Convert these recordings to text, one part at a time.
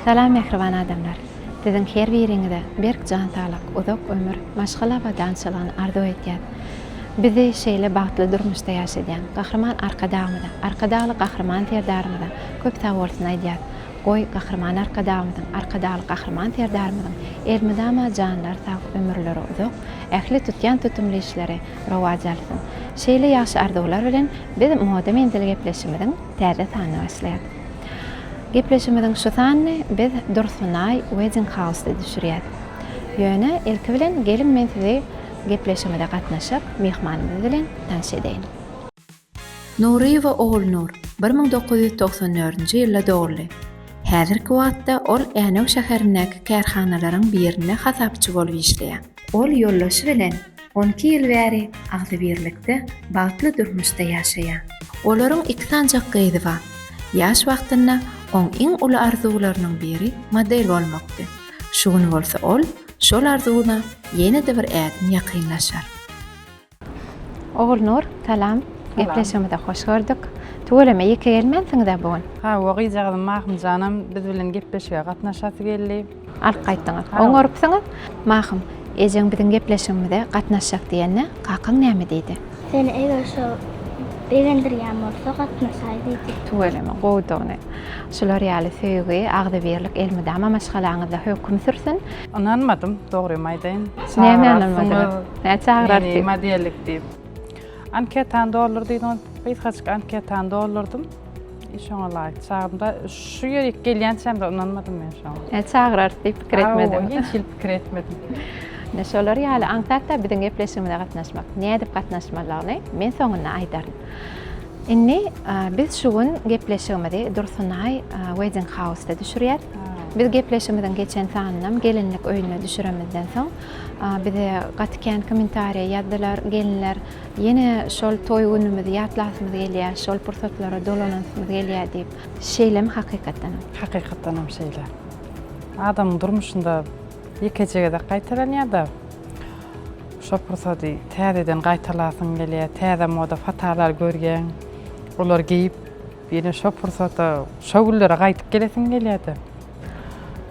Salam mähriban adamlar. Siziň her biriňize berk jan saglyk, uzak ömür, maşgala abadançylygyny arzuw edýän. Bizi şeýle bagtly durmuşda ýaşadýan Gahryman Arkadagymyza, Arkadagly Gahryman Serdarymyza köp sagbolsun aýdýas. Goý, Gahryman Arkadagymyzyň, Arkadagly Gahryman Serdarymyzyň elmydama janlary sag, ömürleri uzak, ähli tutýan tutumly işleri rowaç alsyn. Şeýle ýagşy arzuwlar bilen biz Moda menzili gepleşimiziň täze sanyny başlaýas. Gepleşimiziň şu sanyny biz Dursunaý Wedding House-da düşürýäs. Ýöne ilki bilen geliň men sizi gepleşimize gatnaşyp myhmanymyz bilen tanş edeýin. Nuryýewa Ogulnur bir müň dokuz ýüz togsan dördünji ýylda doguldy. Häzirki wagtda ol Änew şäherindäki kärhanalaryň birinde hasapçy bolup işleýär. Ol ýoldaşy bilen on iki ýyl bäri agzybirlikde, bagtly durmuşda ýaşaýar. Olaryň iki sanjak gyzy bar. Ýaş wagtynda oň iň uly arzuwlarynyň biri model bolmakdy. Şu gün bolsa ol şol arzuwyna ýene-de bir ädim ýakynlaşar. Ogulnur, salam. Gepleşigimize hoş gördük. Tüweleme ýeke gelmänsiňiz-ä bu gün? Hawa, gyzjagazym Mahym janam biz bilen gepleşige gatnaşasy geldi. Alyp gaýtdyňyz. Oňarypsyňyz. Mahym, ejeň biziň gepleşigimize gatnaşjak diýende, kakaň näme diýdi? Seni eger şol begendirýän bolsa, gatnaşaý diýdi. Tüweleme, gowudygyny. Şular ýaly söýgi, agzybirlik elmydama maşgalaňyzda höküm sürsün! Ynanmadym, dogrymy aýdaýyn. Näme ynanmadyňyz? Näme çagyrardy? Meni modellik diýip. Anketany doldur diýdiňiz. Gysgajyk anketany doldurdym. E, şoňa laýyk çagyrymda şu ýerik gelýänçämde ynanmadym men şoňa. Näme çagyrardy diýip pikir etmediňiz? Hiç hili pikir etmedim. Ine şolar ýaly aňsatda biziň gepleşigimize gatnaşmak, nädip gatnaşmalyny men soňunda aýdaryn. Indi biz şu gün gepleşigimizi Dursunaý Wedding House-da düşürýäs. Biz gepleşigimiziň geçen sanynam gelinlik öýünde düşüremizden soň, bize gaty kän kommentariýa ýazdylar. Gelinler ýene şol toý günümizi ýatlasymyz gelýär, şol pursatlara dolanasymyz gelýär diýip. Şeýlemi hakykatdanam? Hakykatdanam şeýle. Adamyň durmuşynda ýekeje gezek gaýtalanýar-da. Şo pursady täzeden gaýtalasyň gelýär, täze moda patalar görýäň, olary geýip, ýene şo pursata, şo günlere gaýdyp gelesiň gelýär-de.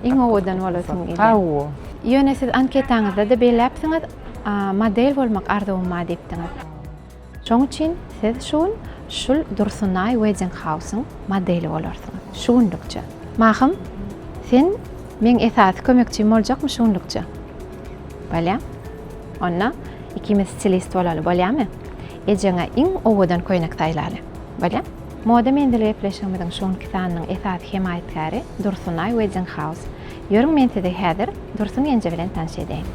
Iň owadan bolasyň gelýär. Hawa. Ýöne siz anketaňyzda-da belläpsiňiz, model bolmak arzuwym bar diýipdiňiz. Şoň üçin siz şu gün şul Dursunaý Wedding House-yň modeli bolarsyňyz. Şu günlükçe. Mahym, sen meň esasy kömekçim boljakmy şu günlükçe? Bolýa. Onda ikimiz stilist bolaly, bolýamy? Ejeňe iň owadan köýnek saýlaly. Bolýa. Moda menzili gepleşigimiziň şu günki sanynyň esasy hemaýatkäri Dursunaý Wedding House. Ýörüň men sizi häzir Dursun ýenje bilen tanyş edeýin.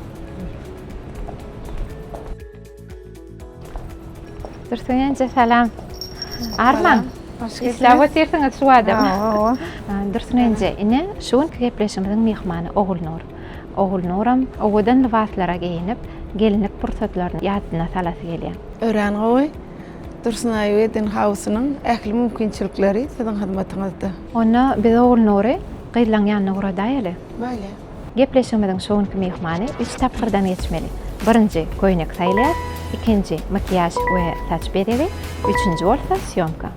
Dursun ence salam. Arman. Isläp otyrsyňyz şu adam. Dursun ence ine şu günki gepleşigimiziň myhmany Ogulnur. Ogulnuram owadan lybaslara geýinip, gelinlik pursatlaryny ýadyna salasy gelýär. Örän gowy. Dursunaý Wedding House-nyň ähli mümkinçilikleri siziň hyzmatyňyzda. Onda biz Ogulnury gyzlaň ýanyna ugradaýaly. Bolýar. Gepleşigimiziň şu günki myhmany üç tapgyrdan geçmeli. Birinji, köýnek saýlaýar, ikinji, makiýaž we saç bezegi, üçünji bolsa, sýomka.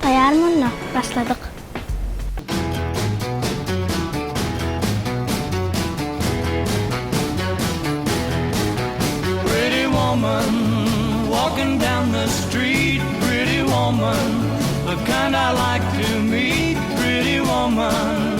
Taýýarmy onda? Başladyk! Pretty woman, walking down the street, pretty woman, the kind I like to meet, pretty woman.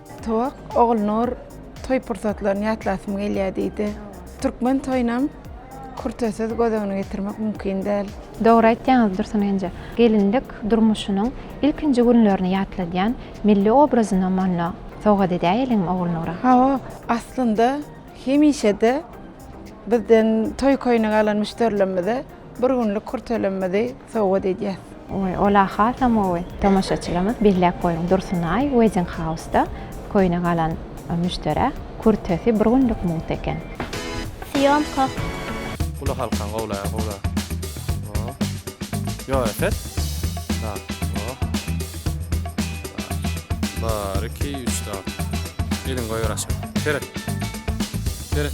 Towak, Ogulnur, toý pursatlaryny ýatlasym gelýär diýdi. Türkmen toýunam kürtesiz göz öňüne getirmek mümkin däl. Dogry aýtýaňyz Dursun enje. Gelinlik durmuşynyň ilkinji günlerini ýatladýan milli obrazyny monda sowgat edäýeliňmi Ogulnura? Hawa, aslynda hemişe-de bizden toý köýnegi alan müşderilerimize Bir günlük kürtelemmizi sowgat edýäs. Oý, ol-a hasam gowy. Tomaşaçylarymyz belläp goýuň, Dursunaý Wedding-House-da köýne galan müşderä kürtesi bir günlük mugt eken. Syýomka. Uly halkan gowlaýar gowla. O. Ýok epet. Bar. O. Bar. Bar. Iki, üç dört. Elin goýber aşak. Seret. Seret.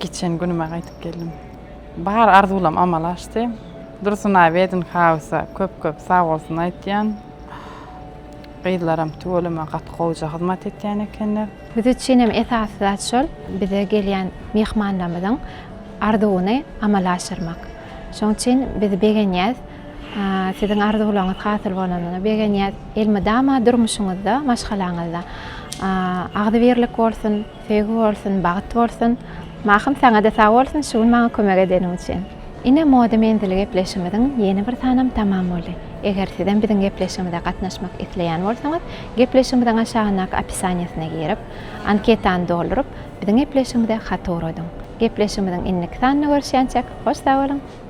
Geçen günüme gaýtyp geldim. Bar arzuwlam amala aşdy. Dursunaý Wedding House-a köp-köp sag bolsun aýtýan. Gyzlaram tüweleme gaty gowja hyzmat etýän ekenler. Biz üçin hem esasy zat şol, bize gelýän myhmanlarymyzyň arzuwyny amala aşyrmak. Şonuň üçin biz begenýäs. Siziň arzuwlaryňyz hasyl bolanyna begenýäs. Elmydama durmuşyňyzda, maşgalaňyzda agzybirlik bolsun. Söýgi bolsun, bagt bolsun. Mahym saňada sag bolsun şu gün maňa kömek edeniň üçin. Ine moda menzili gepleşigimiziň ýene bir sanam tamam boldy. Eger sizem biziň gepleşigimize gatnaşmak isleýän bolsaňyz gepleşigimiziň aşagyndaky opisaniýasyna girip, anketany dolduryp biziň gepleşigimize hat ugradyň. Gepleşigimiziň indiki sanynda görüşýänçäk hoş sag boluň!